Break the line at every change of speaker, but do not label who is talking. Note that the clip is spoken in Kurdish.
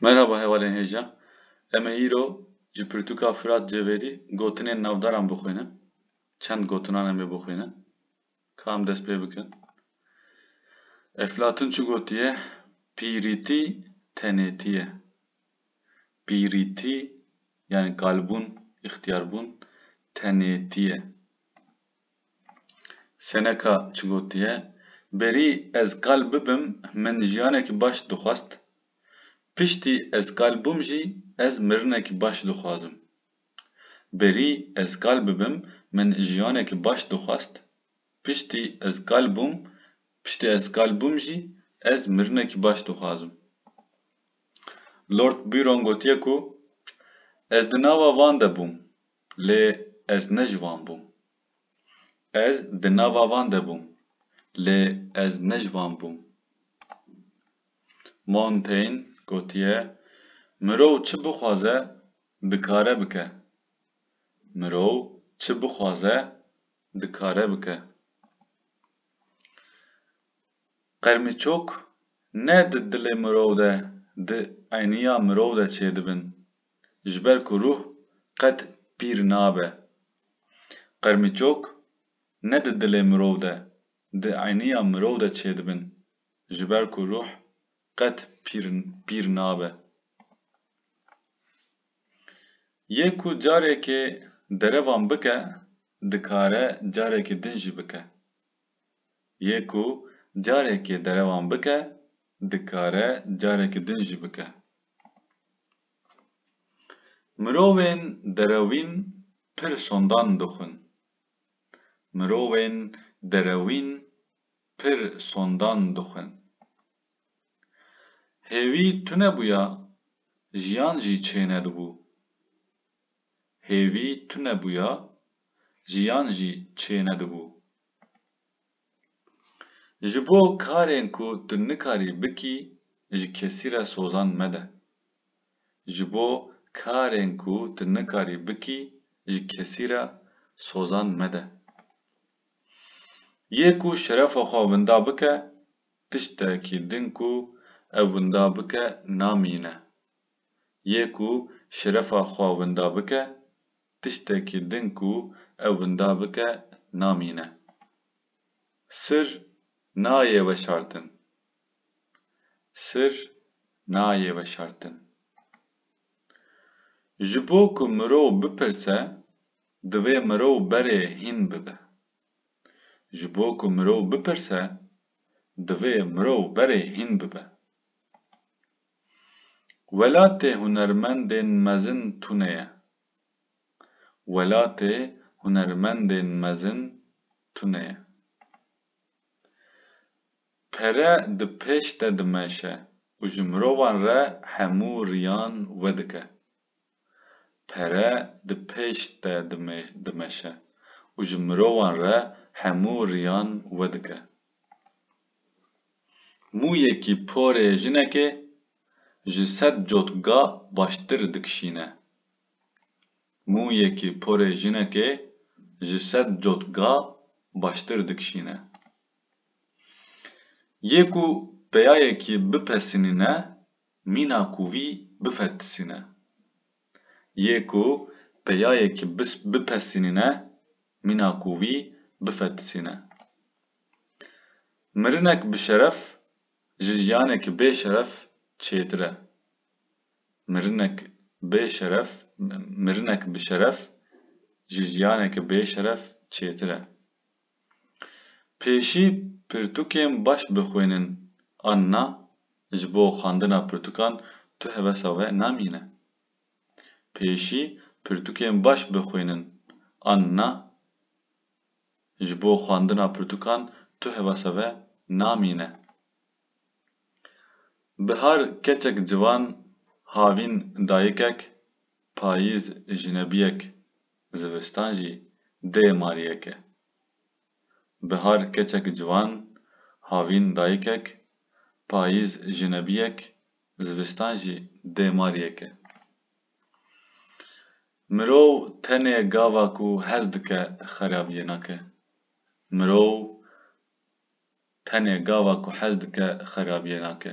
Merhaba hevalên hêja. Em ê îro ji pirtûka Firat Cevêrî gotinên navdaran bixwînin. Çend gotinan em ê bixwînin. Ka em dest pê bikin. Eflatun çi gotiye? Pîrîtî tenêtî ye. Pîrîtî yani kalbûn, îxtîyarbûn tenêtî ye. Seneca çi gotiye, Berî ez kal bibim min jiyanekî baş dixwest, piştî ez kal bûm jî ez mirinekî baş dixwazim. Berî ez kal bibim min jiyanekî baş dixwest, piştî ez kal bûm piştî ez kal bûm jî ez mirinekî baş dixwazim. Lord Byron gotiye ku, Ez di nava van de bûm. Lê ez ne ji wan bûm. Ez di nava van de bûm, lê ez ne ji wan bûm. Montaigne gotiye, Mirov çi bixwaze, dikare bike. Mirov çi bixwaze, dikare bike. Qermîçok ne di dilê mirov de, di eyniya mirov de çêdibin, ji ber ku ruh qet pîr nabe. Qermîçok ne di dilê mirov de, di eyniya mirov de çêdibin, ji ber ku ruh qet pîr pîr nabe. Yê ku carekê derevan bike, dikare carekê din jî bike. Yê ku carekê derevan bike, dikare careke din jî bike. Mirovên derewîn pir sondan dixwin. Mirovên derewîn pir sondan dixwin. Hêvî tune bûya, jiyan jî çêne dibû. Hêvî tune bûya, jiyan jî çêne dibû. Ji bo karên ku tu nikarî bikî ji kesî re sozan mede. Ji bo karên ku tu nikarî bikî ji kesî re sozan mede. Yê ku şerefa xwe winda bike, tiştekî din ku ew winda bike namîne. Yê ku şerefa xwe winda bike, Tiştekî din ku ew winda bike namîne. Sir nayê weşartin. Sir nayê weşartin. Ji bo ku mirov bipirse, divê mirov berê hîn bibe. Ji bo ku mirov bipirse, divê mirov berê hîn bibe. Welatê hunermendên mezin tune ye. Welatê hunermendên mezin tune ye. Pere di pêş te dimeşe û ji mirovan re hemû riyan vedike. pere di pêş te dimeşe û ji mirovan re hemû riyan wedike. Mûyekî porê jinekê ji sed cotga baştir dikişîne. Mûyekî porê jinekê ji sed cotga baştir dikişîne. Yê ku peyayekî bipesînîne mîna ku vî bifetisîne. Yê ku peyayekî bipesînîne mîna ku vî bifetisîne. Mirinek bi şeref ji jiyanekî bê şeref çêtir e. Mirinek bê şeref mirinek bi şeref ji jiyanekî bê şeref çêtir e. Pêşî pirtûkên baş bixwînin an na, ji bo xwendina pirtûkan tu hevesa we namîne. Pêşî pirtûkên baş bixwînin an na, ji bo xwendina pirtûkan tu hevasa we namîne. Bihar keçek ciwan, havîn dayikek, payîz jinebiyek Zivistan jî dê mariyek e. Bihar keçek ciwan, havîn dayikek, payîz jinebiyek, zivistan jî dê mariyek e. Mirov tenê gava ku hez dike xerabiyê nake. Mirov tenê gava ku hez dike xerabiyê nake.